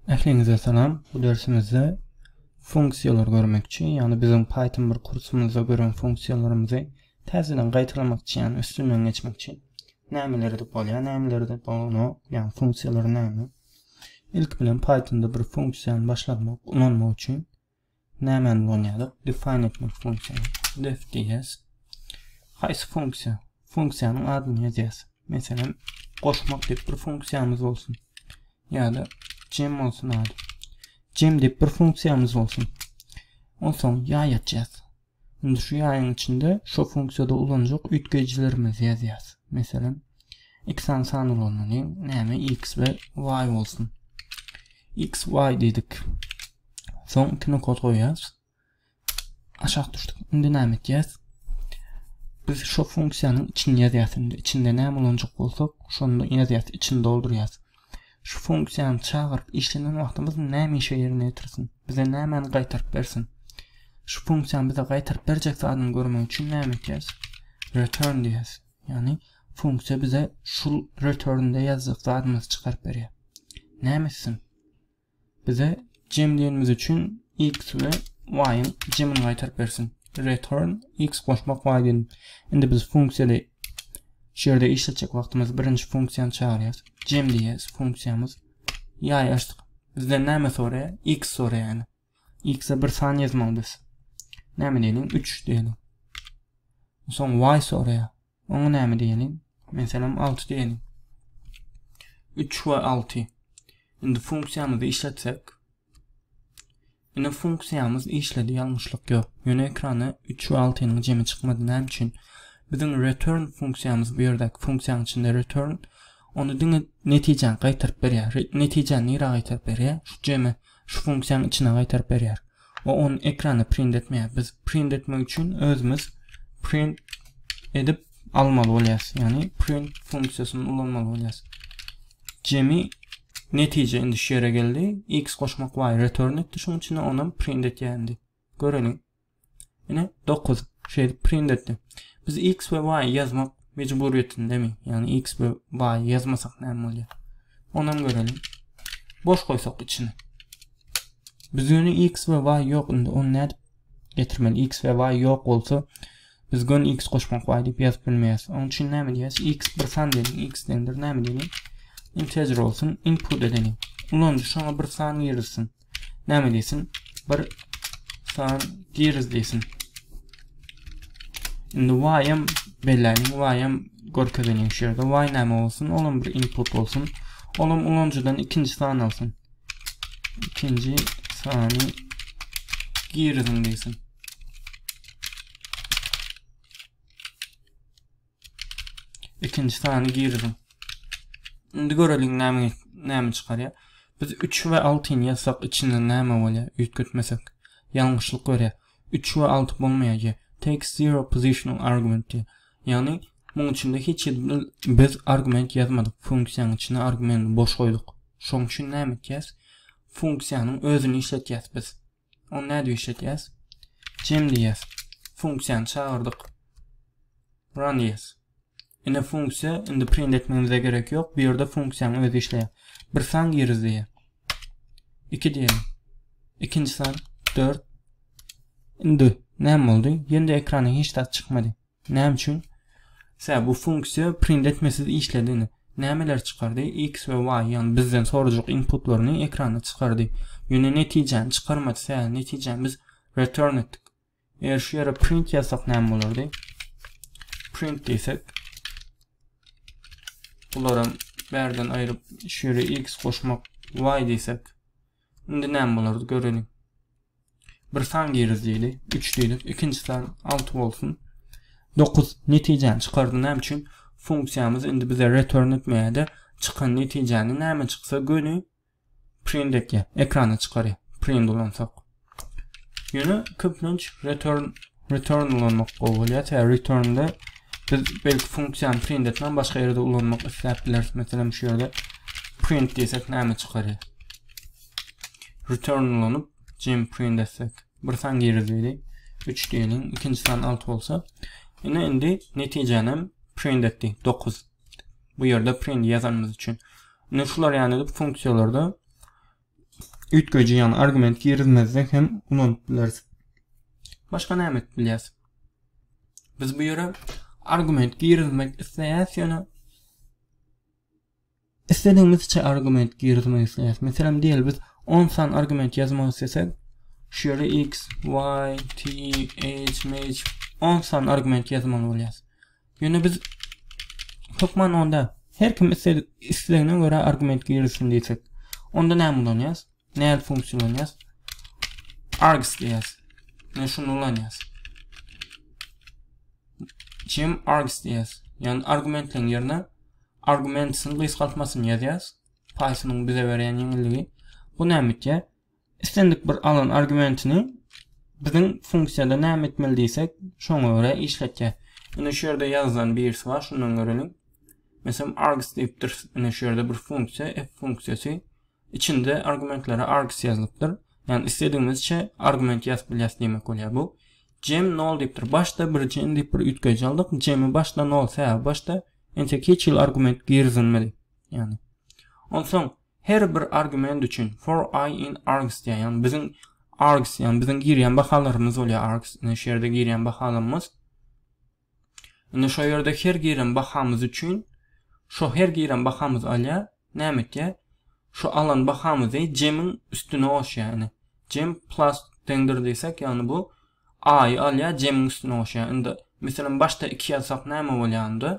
Ähliňize salam. Bu dersimizde funksiýalar görmekçi. Ýagny biziň Python bir kursumyzda gören funksiýalarymyzy täzeden gaýtalamakçy, ýagny üstünden geçmekçi. Nämeler edip bolýar, nämeler edip bolanok, ýagny funksiýalar näme? Ilki bilen Pythonda bir funksiýany başlatmak, ulanmak üçin Nämäni ulanyýarys? Define etmek funksiýany. Def diýýäs. Haýsy funksiýa? Funksiýanyň adyny ýazýas. Meselem, goşmak diýip bir funksiýamyz bolsun. Ýa-da cem bolsun ady. Cem diýip bir funksiýamyz bolsun. Onsoň ýaý açýas. Indi şu ýaýyň içinde şo funksiýada ulanjak üýtgeýjilerimizi ýazýas. Meselem, iki sany san ulanmaly. Näme x we y bolsun. x y diýdik. Soň iki nokat goýýas. Aşak düşdük. Indi näme etýäs? Biz şo funksiýanyň içini ýazýas indi. Içinde näme ulanjak bolsak, şonda ýazýas, içini doldurýas. Şu funksiýany çagyryp işlenen wagtymyz näme işe ýerine ýetirsin? Bize nämäni gaýtaryp bersin? Şu funksiýany bize gaýtaryp berjek zadyny görmek üçin näme etýäs? Return diýýäs. Ýagny funksiýa bize şu return-de ýazjak zadymyzy çykaryp berýär. Näme etsin? Bize jemleýenimiz üçin x we y-yň jemini gaýtaryp bersin. Return x goşmak y diýelim. Indi biz funksiýada şu ýerde işletjek wagtymyz birinji funksiýany çagyrýas. Jem diýýäs funksiýamyz. Ýaý açdyk. Bizden näme soraýar? X soraýar. X-e bir san ýazmaly biz. Näme diýelim? 3 diýelim. Soň y soraýar. Oňa näme diýeliň? Meselem, alty diýeliň. Üç we alty. Indi funksiýamyzy işletsek. Ine funksiýamyz işledi, ýalňyşlyk ýok. Ýöne ekrana üç we altynyň jemi çykmady. Näme üçin? Biziň return funksiýamyz bu ýerdäki funksiýanyň içinde return ony diňe netijäni gaýtaryp berýär. Netijäni nirä gaýtaryp berýär? Şu jemi Şu funksiýany içine gaýtaryp berýär. We ony ekrana print etmeýär. Biz print etmek üçin özümiz print edip almaly bolýas. Ýagny print funksiýasyny ulanmaly bolýas. Jemi netije indi şu ýere geldi. X goşmak y return etdi şuň üçin onam print etýär indi. Göreliň. Ine 9 şeýdip print etdi. Biz x we y ýazmak mejburyýetindemi? Ýagny x we y ýazmasak näme bolýar? Onam göreliň. Boş goýsak içini. Biz ýöne x we y ýok indi onu nädip getirmeli? x we y ýok bolsa biz gön x goşmak y diýip ýazyp bilmeýäris. Onuň üçin näme diýýäs? x bir san diýelim. x deňdir näme diýelim? Integer bolsun. Input edeliň. Ulanyjy şoňa bir san girizsin. Näme diýsin? Bir san giriz diýsin. Indi y hem belläniň y hem görkezeniň şu ýerde y näme bolsun? Olam bir input bolsun. Olam ulanyjydan ikinji san alsyn. İkinci sany giriziň diýsin. Ikinji sany giriziň. Indi göreliň näme näme çykarýar. Biz 3 we 6 ni ýazsak içinden näme bolýar? Üýtgetmesek. Ýalňyşlyk berýär. 3 we 6 bolmaýar. Take zero positional argument diýär. Ýagny muň içinde hiç bir biz argument ýazmadyk. Funksiýanyň içine argument boş goýduk. Şoň üçin näme etýäs? Funksiýanyň özüni işletýäs biz. Ony nädip işletýäs? Cem diýýäs. Funksiýany çagyrdyk. Run diýýäs. Indi funksiýa, indi print etmegimize gerek ýok. Bu ýerde funksiýanyň özi işleýär. Bir san giriz diýýär. 2 diýelim. Ikinji san 4. Indi näme boldy? Ýende ekrana hiç zat çykmady. Näme üçin? Sebäbi bu funksiýa print etmesiz işledi. Indi nämeleri çykardy? X we Y, ýagny bizden sorajak inputlaryny ekrana çykardy. Ýöne netijäni çykarmady. Sebäbi netijäni biz return etdik. Eger şu ýere print ýazsak näme bolardy? Print diýsek, bularam bärden aýryp şu ýere x goşmak y diýsek Indi näme bolardy göreliň. Bir san girdi diýli. 3 diýli. Ikinji san 6 bolsun. 9 netijäni çykardy. Näme üçin? Funksiýamyz indi bize return etmeýärdi. Çykan netijäni näme çyksa göni print etýär. Ekrana çykarýar. Print ulansak. Ýöne köplenç return Return ulanmak gowy bolýar. Tä returnde biz belki funksiýany print etmän başga ýerde ulanmak isläp bileris. Meselem şu ýerde print diýsek näme çykarýar? Return ulanyp gym print etsek bir san girer diýdi. 3 diýeliň, ikinji san 6 bolsa. Ine indi netijäni hem print etdi 9. Bu ýerde print ýazanymyz üçin. Indi şular ýaly edip funksiýalarda üýtgeýji ýagny argument girizmezden hem ulanyp bileris. Başga näme edip bilýäs? Biz bu ýere argument girizmek isleýäs ýöne isledigimizçe argument girizmek isleýäs. Meselem diýeli biz 10 san argument ýazmak islesek, şu ýere x, y, t, h, m, 10 san argument ýazmaly bolýar. Ýöne biz hökman onda her kim islegine görä argument girizsin diýsek, onda näme ulanýas? Näme funksiýa ulanýas? args diýýäs. Men şuny ulanýas. Jim args diýýäs. Ýani argumentleriň ýerine argumentsiň gysgaltmasyny ýazýas. Python-yň bize berýän ýeňilligi. Bu näme etýär? Islendik bir alan argumentini biziň funksiýada näme etmeli diýsek, şoňa görä işletýär. Ine şu ýerde ýazylan birisi bar, şundan göreliň. Meselem args diýipdir. Ine şu ýerde bir funksiýa, f funksiýasy. Içinde argumentlere args ýazylypdyr. Ýani isledigimizçe argument ýazyp bilýäs diýmek bolýar bu. Cem 0 diýipdir. Başda bir cem diýip bir üýtgeýji aldyk. Cemi başda 0, sebäbi başda entek hiç hili argument girizilmedi. Ýani. Onsoň Her bir argument üçin for i in args diýýär. Ýagny biziň args, ýagny biziň girýän bahalarymyz bolýar args. Indi şu ýerde girýän bahalarymyz. Indi şu ýerde her giren bahamyz üçin şu her giren bahamyz alýar. Näme etýär? Şu alan bahamyzy jemiň üstüne goşýar. Indi jem plus deňdir diýsek, ýagny bu a-y alýar, jemiň üstüne goşýar. Indi meselem başda 2 ýazsak näme bolýar indi?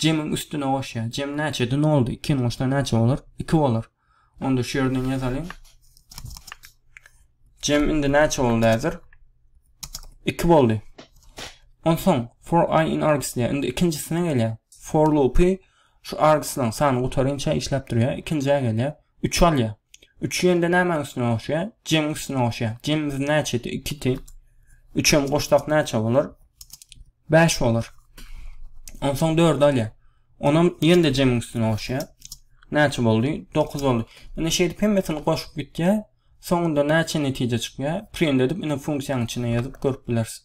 Jemiň üstüne goşýar. Jem näçe? Di noldy. Ikini goşsa näçe bolar? Iki bolar. Onda şu ýerden ýazalyň. Jem indi näçe boldy häzir? Iki boldy. Onsoň for i in args diýär. Indi ikinjisine gelýär. For loopy şu argslaň sany gutaryňça işläp durýar. Ikinjä gelýär. Üç alýa. Üç ýende nämäň üstüne goşýa? Jemiň üstüne goşýa. Jemimiz näçedi? Ikidi. Üçem goşsak näçe bolar? Bäş bolar. Onsoň dördi alýa. Onam ýende jemiň üstüne goşýa. Näçe boldy? Dokuz boldy. Ine şeýdip hemmesini goşup gitýä. Soňunda näçe netije çykýa? Print edip ine funksiýanyň içine ýazyp görüp bilersiň.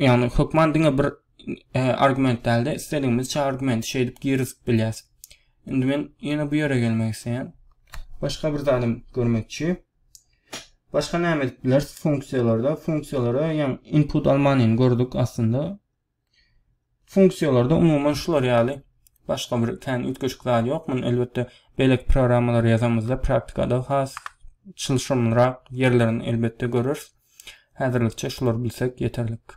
ýagny hökman diňe bir argument dälde istedigiňizçe argument şeýdip girizip bilýäs. Indi men ýene bu ýere gelmek isleýän. Başga bir zadym görmekçi. Başga näme edip bileris funksiýalarda? Funksiýalara ýa input almanyny gördük aslynda. Funksiýalarda umuman şular ýaly başga bir kän üýtgeşik zat ýok. Muny elbetde beýleki programmalary ýazamyzda praktikada has çylşyrymlyrak ýerlerini elbetde göreris. Häzirlikçe şulary bilsek ýeterlik.